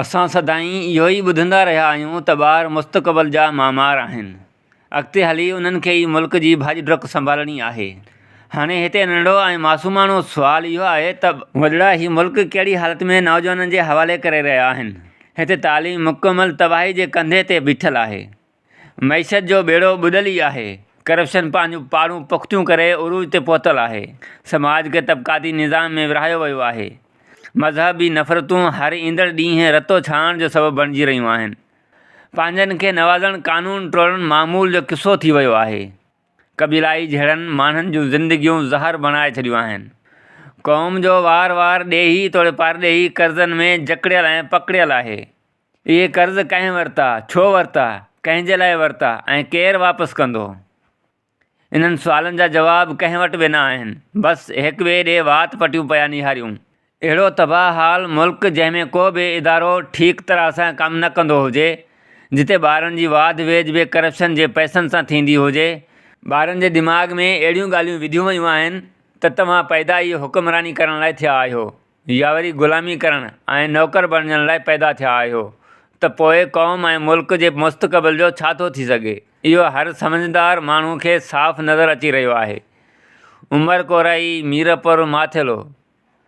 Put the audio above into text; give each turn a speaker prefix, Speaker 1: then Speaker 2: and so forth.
Speaker 1: اسان سدائين اهو ئي ٻڌندا رهيا آهيون ته ٻار مستقبل جا معمار آهن، اڳتي هلي انهن کي ئي ملڪ جي ڀڄ ڊڪ سنڀالڻي آهي. هاڻي هتي ننڍڙو ۽ معصوماڻو سوال اهو آهي ته. وڏڙا هي ملڪ ڪهڙي حالت ۾ نوجوانن جي حوالي ڪري رهيا آهن. هتي تعليم مڪمل تباهي جي ڪنڌي تي بيٺل آهي. معيشت جو ٻيڙو ٻڏل ئي آهي، ڪرپشن پنهنجون پاڙون پختيون ڪري عروج تي پهتل آهي، سماج کي طبقاتي نظام ۾ ورهايو ويو آهي، مذهبي نفرتون هر ايندڙ ڏينهن رتو ڇاڻڻ جو سبب بڻجي رهيون آهن، پنهنجن کي نوازڻ قانون ٽوڙڻ معمول جو قصو ٿي ويو آهي، قبيلائي جهيڙن ماڻهن جون زندگيون زهر بڻائي ڇڏيون آهن، قوم جو وار وار ڏيهي توڙي پارڏيهي قرضن ۾ جڪڙيل ۽ پڪڙيل آهي. اهي قرض ڪنهن ورتا، ڇو ورتا، ڪنهن جي لاء ورتا ۽ ڪير واپس ڪندو؟ انهن سوالن جا جواب ڪنهن وٽ به نه آهن. بس هڪ ٻئي ڏي وات پٽيون پيا نهاريون. اهڙو تباهه حال ملڪ جنهن ۾ ڪو به ادارو ٺيڪ طرح سان ڪم نه ڪندو هجي، جتي ٻارن جي واڌ ويجهه به ڪرپشن جي پئسن سان ٿيندي هجي، ٻارن جي دماغ ۾ اهڙيون ڳالهيون وڌيون ويون آهن ته توهان پيدا ئي حڪمراني ڪرڻ لاء ٿيا آهيو، يا وري غلامي ڪرڻ ۽ نوڪر بڻجڻ لاء پيدا ٿيا آهيو ته پوء قوم ۽ ملڪ جي مستقبل جو ڇا ٿو ٿي سگهي؟ اهو هر سمجهدار ماڻهو کي صاف نظر اچي رهيو آهي. عمر ڪورائي، ميرپور، ماٿيلو.